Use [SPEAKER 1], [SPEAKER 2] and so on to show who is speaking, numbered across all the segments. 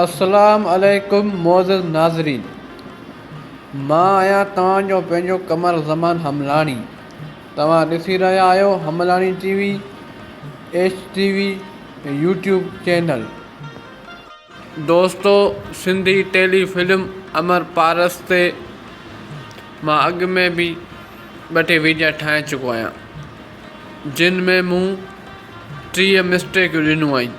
[SPEAKER 1] اسلام عليڪم معزز ناظرين مان آهيان توهان جو پنهنجو قمر زمان حملاڻي توهان ڏسي رهيا آهيو حملاڻي T V H T V YouTube channel. دوستو سنڌي ٽيلي فلم امر پارس تي مان اڳ ۾ به ٻه ٽي ويڊيا ٺاهي چڪو آهيان جن ۾ مون ٽيهه مسٽيڪيون ڏنيون آهن.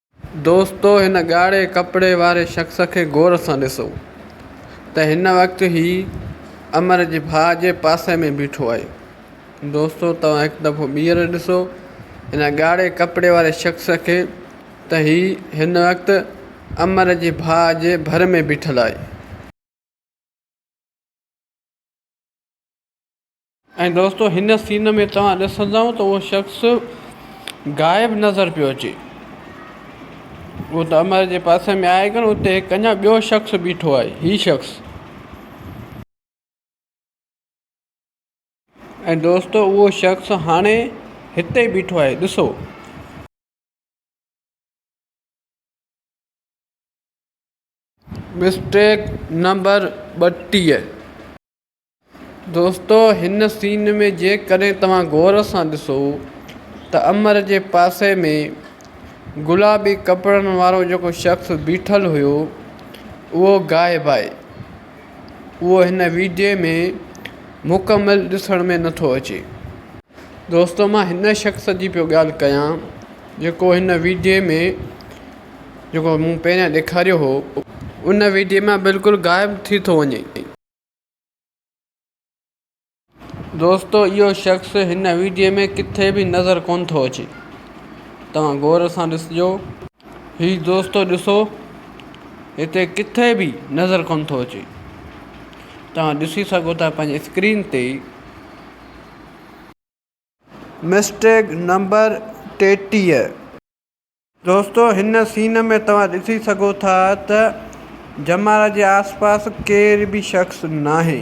[SPEAKER 1] دوستو هن ڳاڙهي ڪپڙي واري شخص کي غور سان ڏسو ته هن وقت هي امر جي ڀاء جي پاسي ۾ بيٺو آهي. دوستو توهان هڪ دفعو ٻيهر ڏسو هن ڳاڙهي ڪپڙي واري شخص کي ته هي هن وقت امر جي ڀاء جي ڀر ۾ بيٺل آهي. ۽ دوستو هن سين ۾ توهان ڏسندؤ ته اهو شخص غائب نظر پيو اچي هو ته امر جي پاسي ۾ آهي ڪونه اتي هڪ اڃان ٻيو شخص بيٺو آهي هي شخص ۽ دوستو اهو شخص هاڻي هتي بيٺو آهي ڏسو. مسٽيڪ نمبر ٻٽيهه. دوستو هن سين ۾ جيڪڏهن توهان غور سان ڏسو ته امر جي پاسي ۾ گلابي ڪپڙن وارو جيڪو شخص بيٺل هيو اهو غائب آهي اهو هن ويڊيو ۾ مڪمل ڏسڻ ۾ نٿو اچي. دوستو مان هن شخص جي پيو ڳالهه ڪيان جيڪو هن ويڊيو ۾ جيڪو مون پهريان ڏيکاريو هو ان ويڊيو مان بلڪل غائب ٿي ٿو وڃي. دوستو اهو شخص هن ويڊيو ۾ ڪٿي به نظر ڪونه ٿو اچي توهان غور سان ڏسجو هي دوستو ڏسو هتي ڪٿي به نظر ڪونه ٿو اچي توهان ڏسي سگهو ٿا پنهنجي اسڪرين تي ئي مسٽيگ نمبر ٽيٽيهه دوستو هن سين ۾ توهان ڏسي سگهو ٿا ته جمارا جي آس پاس ڪير به شخص ناهي.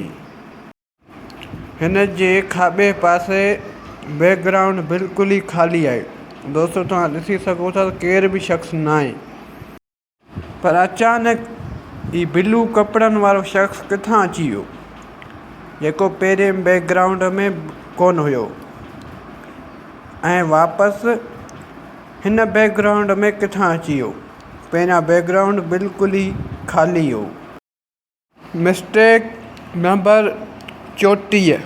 [SPEAKER 1] هن جي کاٻي پاسي بيڪ گرائونڊ بلڪل ئي خالي آهي. دوستو توهان ڏسي سگهو ٿا ته ڪير به شخص ناهي. پر اچانڪ هي بلو ڪپڙن وارو شخص ڪٿان اچي ويو جيڪو پهرين بيڪ گرائونڊ ۾ ڪونه هيو ۽ واپس هن بيڪ گرائونڊ ۾ ڪٿان اچي ويو پهريان بيڪ گرائونڊ بلڪل ئي خالي هيو. مسٽيڪ نمبر چوٽيهه.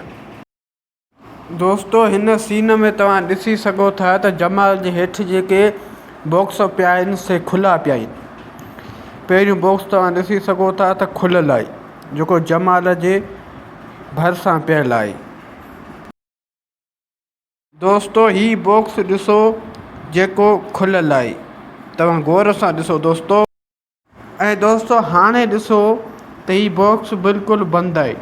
[SPEAKER 1] دوستو هن سين ۾ توهان ڏسي سگهو ٿا ته جمال جي هيٺ جيڪي باڪس پيا آهن سي کلا پيا آهن پهريون باڪس توهان ڏسي سگهو ٿا ته کليل آهي جيڪو جمال جي ڀرسان پيل آهي دوستو هي باڪس ڏسو جيڪو کليل آهي توهان غور سان ڏسو دوستو. ۽ دوستو هاڻي ڏسو ته هي باڪس بلڪل بند آهي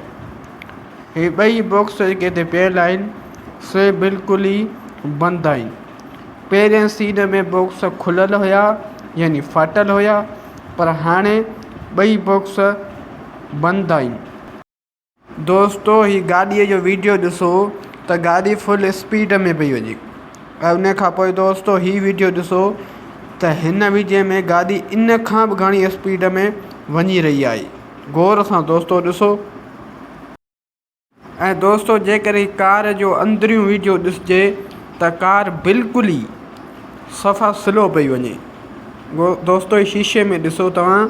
[SPEAKER 1] هي ٻئي باڪس جيڪي هتي پيل آهن سي بلڪل ئي بند آهن پهرين سين ۾ باڪس کليل هيا يعني ڦاٽل هيا پر هاڻي ٻئي باڪس بند آهن دوستو هي گاڏيء جو ويڊيو ڏسو ته گاڏي فل اسپيڊ ۾ پئي وڃي ۽ ان کان پوء دوستو هي ويڊيو ڏسو ته هن ويڊيو ۾ گاڏي ان کان به گهڻي اسپيڊ ۾ وڃي رهي آهي غور سان دوستو ڏسو ۽ دوستو جيڪڏهن هي ڪار جو اندريون ويڊيو ڏسجي ته ڪار بلڪل ئي صفا سلو پئي وڃي دوستو هي شيشي ۾ ڏسو توهان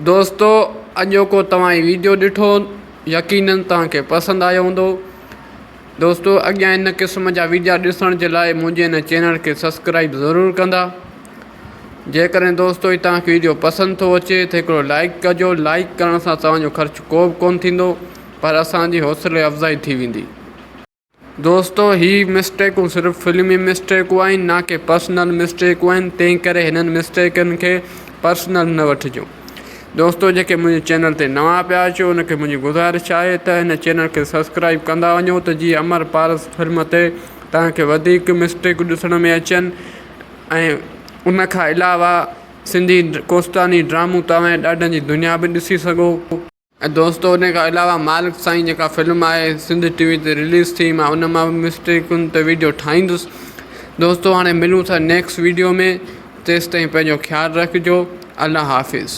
[SPEAKER 1] دوستو اڄوڪو توهان هي ويڊيو ڏٺو يقينن توهان کي پسند آيو هوندو دوستو اڳيان هن قسم جا ويڊيا ڏسڻ جي لاء منهنجي هن چينل کي سبسڪرائب ضرور ڪندا جيڪڏهن دوستو هي توهان کي ويڊيو پسند ٿو اچي ته هڪڙو لائڪ ڪجو لائڪ ڪرڻ سان توهان جو خرچ ڪو به ڪون ٿيندو پر اسان جي حوصلي افزائي ٿي ويندي دوستو هي مسٽيڪون صرف فلمي مسٽيڪون آهن نه ڪي پرسنل مسٽيڪون آهن تنهن ڪري هنن مسٽيڪن کي پرسنل نه وٺجو دوستو جيڪي منهنجي چينل تي نوان پيا اچو ان کي منهنجي گذارش آهي ته هن چينل کي سبسڪرائيب ڪندا وڃو ته جيئن امر پارس فلم تي توهان کي وڌيڪ مسٽيڪون ڏسڻ ۾ اچن ۽ ان کان علاوه سنڌي ڪوستاني ڊرامون توهان ڏاڏن جي دنيا به ڏسي سگهو. دوستو ان کان علاوه مالڪ سائين جيڪا فلم آهي سنڌ ٽي وي تي رليز ٿي ماهه ان مان به مسٽيڪن تي ويڊيو ٺاهيندس دوستو هاڻي ملون ٿا نيڪس ويڊيو ۾ تيستائين پنهنجو خيال رکجو الله حافظ